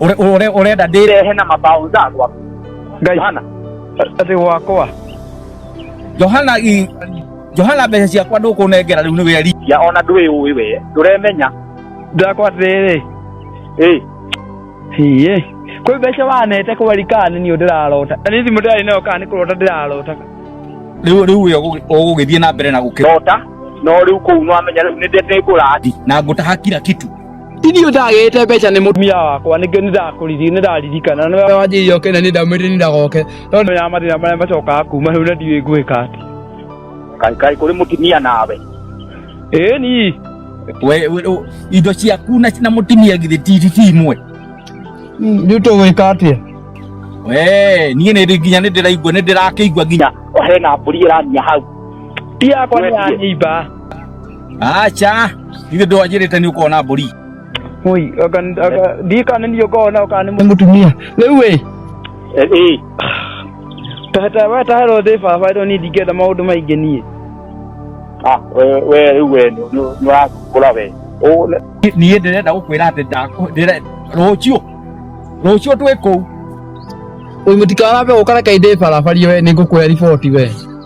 Ure- ure- urenda ndĩrehe na mabaũnza gwaku ngai hana atä gwakwa johana i- johana mbeca ciakwa ndũkũnengera rĩu nĩ weri ya ona ndwĩ ũĩ we ndũremenya ndakwa atä ĩ hiä kwä mbeca wanete kwä rikani nä å ndä rarota na nä thimå ndä rarä nayo kana nä kå rota ndä rarota rĩu rĩu wĩ ũgũ- ũgũgĩthiĩ na mbere na gũkĩra rota no rĩu kũu no amenya rĩu nĩ ndĩ ngũrati na ngũtaha kira kitu Ithuĩ ndagĩte mbeca nĩ mũtumia wakwa nĩkĩo nĩndakũriri nĩndaririkana nĩwe wanjĩire oke na nĩ ndamwĩrire nĩ ndagoke no nĩ ya mathĩna marĩa macokaga kuma rĩu na ndiũĩ ngwĩka atĩ Kai kai kuri mutumia nawe. ĩĩ ni we we- u- indo ciaku na na mutumia githĩ ti ti imwe rĩu tũgwĩka atĩa we niĩ nĩ nginya nĩ ndĩraigua nĩ ndĩrakĩigua nginya Ohe na mburi irania hau. ti yakwa nĩ ya Wendia. nyimba acha ithe ndwanjĩrĩte nĩ ũkona mbũri Oi, aka aka ndikana niyo kona kana mu. Mutumia. Rĩu ĩ. Eh. Tata wa tahero thĩ baba ndo ni ndingĩenda maũndũ maingĩ niĩ. Ah, we we rĩu we nĩũrakũra we. Niĩ ndĩrenda gũkwĩra atĩ ndakũ rũciũ rũciũ twĩ kũu. Ũyũ mũtikarambe ũkareka indĩ barabari we nĩ ngũkwĩra riboti we.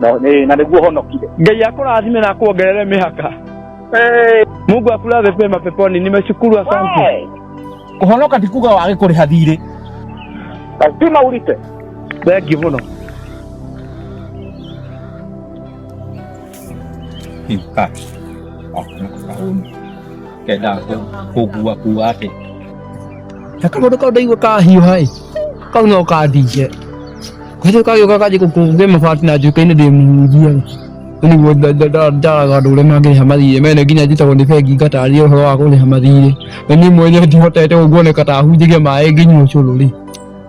No, nĩ- na nĩguo honokire ngai akũrathime na akuongerere mĩhaka Eh, mungu akulaze pema peponi nimeshukuru asante we, kũhonoka ti kuga wage kũrĩha thirĩ lazima ulipe thengiũ mũno Hii, ah. Ah, kuna kauni. kenda kũngua kua atĩ na kaũndũ kau ndaigua kahiũha ĩ kau no kandinge kwĩrĩ kagĩũka kanjĩ gũkũngĩ mabati na njuka-inĩ ndĩmuhunjia nĩguo ndaraga andũ ũrĩa mangĩrĩha mathirĩ mene nginya njĩtagwo nĩ bengi ngataria ũhoro wa kũrĩha mathirĩ na niĩ mwene ndihotete ũguo nĩ kata hunjĩria maĩ nginyua ũcũrũ rĩ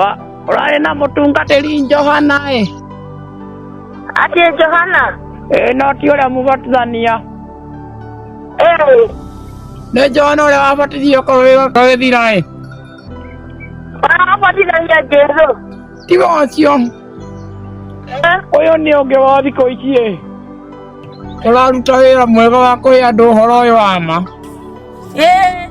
Wa- Ũrarĩ na mũtungatĩri Johana ĩ. Ati Johana. Ĩ no ti ũrĩa mũbatithania. Eh. Nĩ Johana ũrĩa wabatithio kũrũĩga gũthira ĩ. Warabatithania Jesu. Ti wacio. Eh. Ũyũ nĩ ũngĩ wa thikũ ici ĩ. Ũraruta wĩra mwega wa kũhe andũ ũhoro ũyũ wa ma. Eh.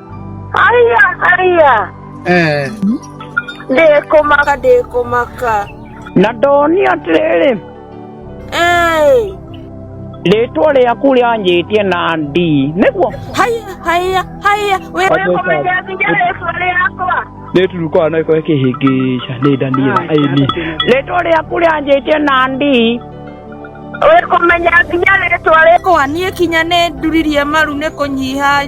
Aya, aya. Eh. Ndĩkũmaka, ndĩkũmaka. na ndoni atĩrĩrĩ Ĩĩ. rĩtwa rĩaku rĩanjĩtie na ndi nĩguo Haya, haya, haya. Wĩ- Ndĩkũmenya nginya rĩtwa rĩakwa. nĩturukaga no ĩkorwo ĩkĩhĩngĩca nĩ ndania aini rĩtwa rĩaku rĩanjĩtie na ndi Wĩkũmenya nginya rĩtwa rĩakwa. Kwa niĩ kinya nĩ nduririe maru nĩ kũnyiha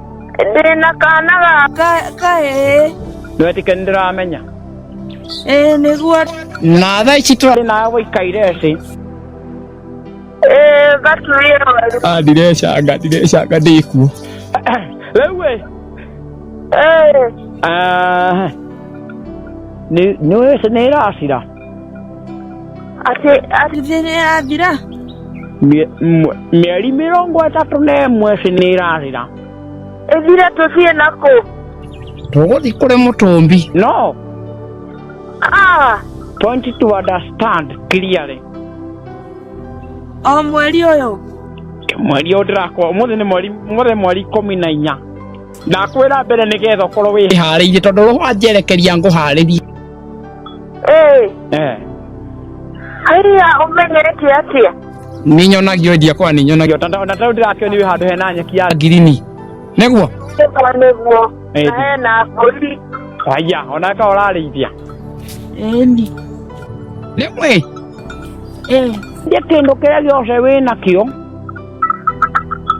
ndĩ na kana ga kahĩĩ Nĩwetĩkia nĩ ndĩramenya. ĩĩ nĩguo Na thaa ici tũrarĩ na gũikaire ĩĩ gaturie werũ Ah, ndirecanga ndirecanga ndĩkuo Rĩu ĩ. ĩĩ Ah. Nĩ nĩ nĩ ĩracira. atĩ atĩ thĩ nĩ yathira Mie- mwe- mĩeri mĩrongo ĩtatũ na ĩmwe ĩci nĩ ĩrathira ĩthire tũthiĩ na kũ tũgũthiĩ kũrĩ mũtũmbi no Ah, point to understand clearly o mweri ũyũ mweri ũyũ ndĩrakwa ũmũthĩ nĩ mweri ũmũthĩ mweri ikũmi na inya ndakwĩra mbere nĩgetha ũkorwo wĩ ĩharĩirie tondũ rũhwanjerekeria ngũharĩrie Ĩĩ, eh haiya ũmenyete atĩa? nĩ nyonagio endia kwa nĩ nyonagio ta ta ta ndirakĩo nĩ handũ hena nyeki ya ngirini nĩguo Nĩguo nĩguo. Ĩĩ. Na hena mbũri. haiya ona ka ũrarĩithia Ĩni. rĩmwe Ĩĩ. nĩ kĩndũ kĩrĩa gĩothe wĩ nakĩo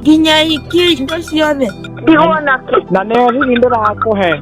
Nginya ikie indo ciothe. Ndigwo nakĩ. na nĩ hihi ndĩrakũhe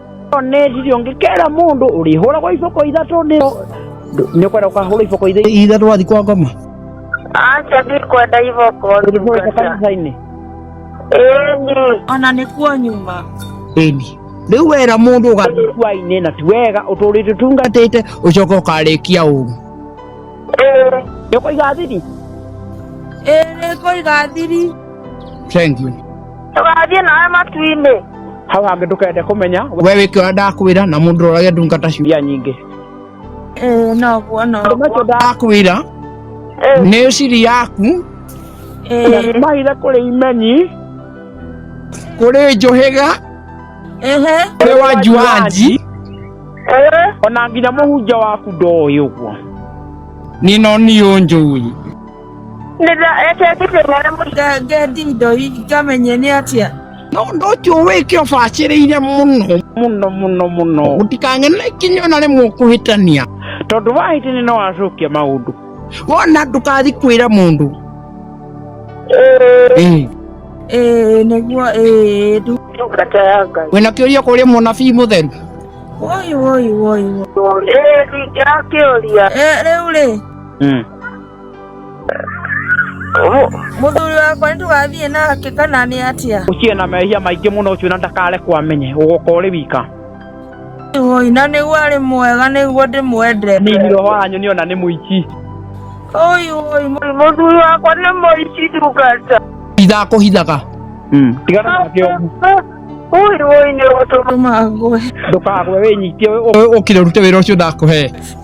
nĩcirio ngĩkera mũndũ ũrĩhũragwo iboko ithatũ nĩ nĩ ũkwenda ũkahũrwo iboko ithatũ ithe ndwathiĩ kwa ngoma aca ndikwenda iboko ũrĩhũrĩte ndungata kanitha-inĩ ĩni ona nĩ kuo nyuma ĩni rĩu wera mũndũ ũgathiĩ kuainĩ na ti wega ũtũrĩte tunga ũgatĩte ũcoka ũkarĩkia ũru ĩĩ nĩ ũkũiga thiri ĩrĩ kũiga thiri Thank you. Tũgathiĩ nawe matu-inĩ. Hau hangĩ ndũkende kũmenya. We wĩke ũrĩa ndakwĩra na mũndũ ũrorage ndungata ciũria nyingĩ. Ĩĩ noguo noguo. Macio ndakwĩra nĩ ciri yaku. Ĩĩ. Mahire kũrĩ imenyi. Kũrĩ njũhĩga. Ehe. Kũrĩ wanji wanji. Ona nginya mũhunjia waku ndoĩ ũguo. Nino niũ njũĩ. ngendi indo ngamenye nĩ atĩa no ũndũ ũcio wĩke ũbacĩrĩire mũno mũno mũno mũno gũtikang'ene kinya ona rĩmwe ũkũhĩtania tondũ wahĩtania no wacokia maũndũ wona ndũkathi kwĩra mũndũ Ĩĩ. ĩĩ nĩguo ĩĩ ndu ndungata ya ngai wĩna kĩũria kũrĩa mũnabii mũtheru woi woi woi woi ĩĩ ndingĩra kĩũria Ĩ- rĩu rĩ Mm. muthuri wakwa nitugathiĩ nake kana nĩ atia uciĩ na mehia maingĩ mũno ucio na ndakare kwamenye ugoka ũrĩ wika oi na nĩguo arĩ mwega nĩguo ndĩmwende nini roho wanyu nĩ ona nĩ mũici oi oi muthuri wakwa nĩ mũici ndungata ndakũhithaga Mm. tigana nake ũgu oi oi nĩ ũtũma ngwe ndũkagwe wĩnyitie wĩ- ũkire rute wĩra ũcio ndakũhe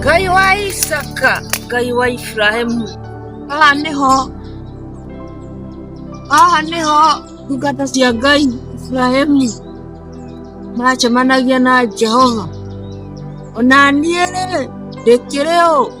ngai wa isaka ngai wa iburahimu haha nĩho haha nĩho ndungata cia ngai iburahimu maracemanagia na jehova ona niĩ rĩ ndĩkĩrĩ ũ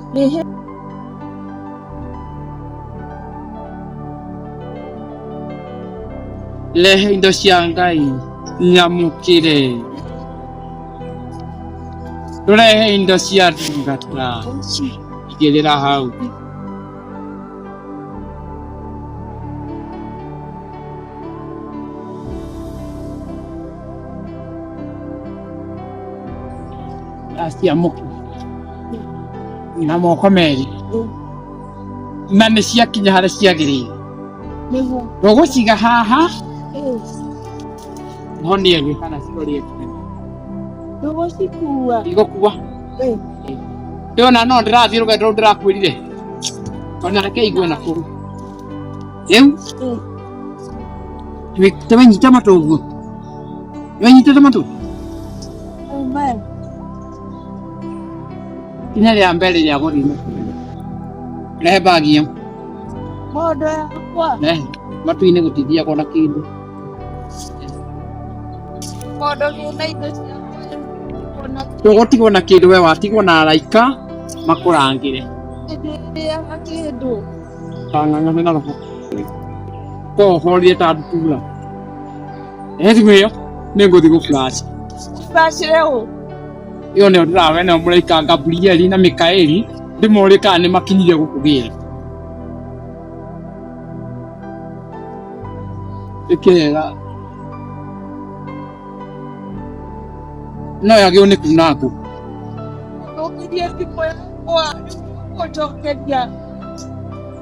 lehe indo cia ngai nyamũkĩre tũrehe indo cia ndungata igĩrĩra hau aciamũkĩra na moko merĩ na nĩ ciakinya harĩa ciagĩrĩire nĩguo ndũgũciga haha monie thĩ kana cirorie kũnene ndũgũcikua igũkua Eh. ndona no ndĩrathiĩ rũgendo rũu ndĩrakwĩrire ona reke igue na kũu rĩu Eh. tũi- tũmenyita matũ ũguo nĩwenyitĩte matũ Amen. Ikinya rĩa mbere rĩa gũthiĩ mũkuru. Rehe mbagi ĩyo. Mondo yakwa. Rehe. Matu-inĩ gũtithiagwo na kĩndũ. Mondo gĩna indo cia Ndũgũtigwo na kĩndũ we watigwo na araika makũrangĩre. Hĩndĩ ĩrĩa kĩndũ. Kang'ang'ana na roho. Ko ũhorire ta ndutura. Rehe thimũ ĩyo. Nĩ ngũthiĩ gũkuracia. Gũkuracire ũ? ĩyo nĩyo ndĩrawe nayo mũraika Gaburieli na Mikaeli ndĩmorĩ kana nĩ makinyire gũkũgĩra ĩkega no yagĩrwo nĩ kuna ngũ Ndokirie thimũ yakwa nĩguo gũcokeria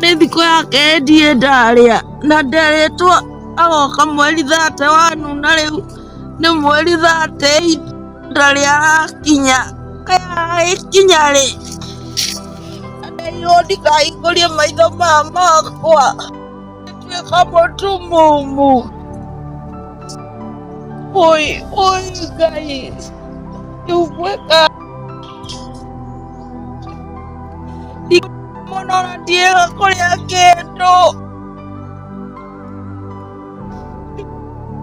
nĩ thikũ yake endie ndarĩa na nderĩtwo agoka mweri thate wanu na rĩu nĩ mweri thate ihinda rĩa arakinya kinya rĩ ndeirwo ndikahingũrie maitho ma makwa nĩtuĩka mũtu mũmu oi oi ngai yugwĩka Mona Diego Corea Kendo.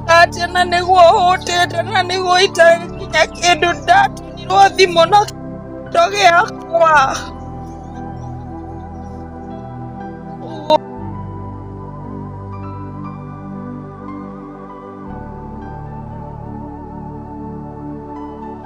Ate na niguo hutete na niguo itari nginya kindu ndatunirwo thimu na kĩndo gĩakwa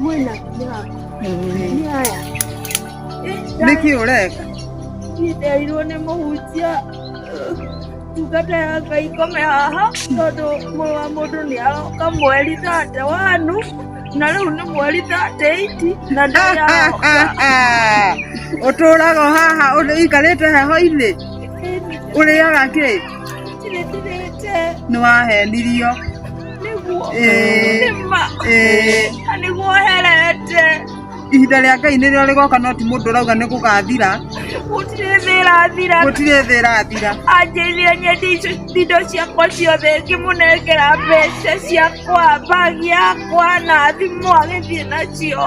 Mwena yako. Ni haya. Nĩkĩ ũreka? Nderirwo nĩ mũhunjia ndungata ya Ngai kome haha tondũ mũrũ wa mũndũ nĩ aroka mweri thate wanu na rĩu nĩ mweri thate iti na ndĩraroka Ũtũũraga haha ũikarĩte heho-inĩ? Ũrĩaga kĩ? ndirĩtirĩte Nĩ wahenirio. ihinda rĩa ngai nĩrĩo rĩgoka no ti mũndũ ũrauga nĩ gũgathira gũtirĩ thĩ ĩrathira gũtirĩ thĩ ĩrathira anjĩithire nyende icio indo ciakwa ciothe ngĩmũnengera mbeca ciakwa mbagi yakwa na thimũ agĩthiĩ nacio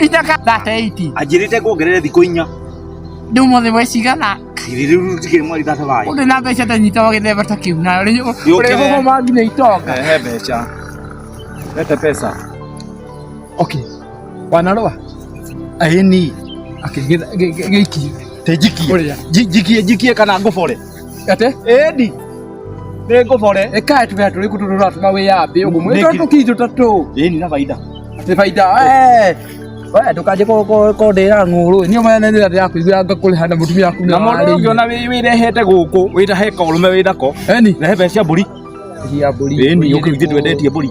Itaka that 80. Anjĩrĩte kuongerere thikũ inya. Ndĩu mothe we cigana. Kiri rĩu tikĩrĩ mweri thata wayo. Ũndũ na mbeca ta nyita wagĩthemba ta kĩu na rĩu ũrĩa hũhũ mangi nĩ itonga. Ehe mbeca. Lete pesa. Okay. Wanarũa. Aini. Akĩgĩtha gĩiki. Te njikie. Ũrĩa. Njikie njikie kana ngũbore. Ate? Edi. Nĩ ngũbore. Ĩkaĩ tũbea tũrĩ kũtũ tũratũma wĩyambĩ ũguo mwĩ tũratũ kii tũtatũ. Ĩĩ nĩ na baida. Nĩ baida. We ndũkanjĩ kũndĩra ng'ũrũ niĩ mwene nĩ ndĩra ndĩrakũigua ngakũrĩha na mũtumia waku. Na mũndũ ũngĩona wĩrehete gũkũ wĩna heka ũrũme wĩna ko. Eni. Rehe mbeca mbũri. Cia mbũri. Ĩĩ nĩ ũkĩrutĩtwo endetie mbũri.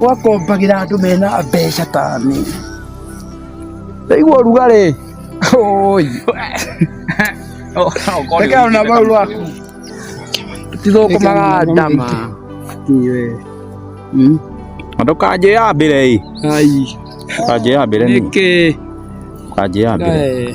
ũgakombagĩra andũ mena mbeca ta niĩ ndaigua ũrugarĩ Oi. Reke ona mau rwaku. Tithũkũmaga ndama. Ndũkanjĩ ya mbere ĩ. Ai. Ndũkanjĩ ya mbere nĩ. Nĩkĩ. Ndũkanjĩ ya mbere.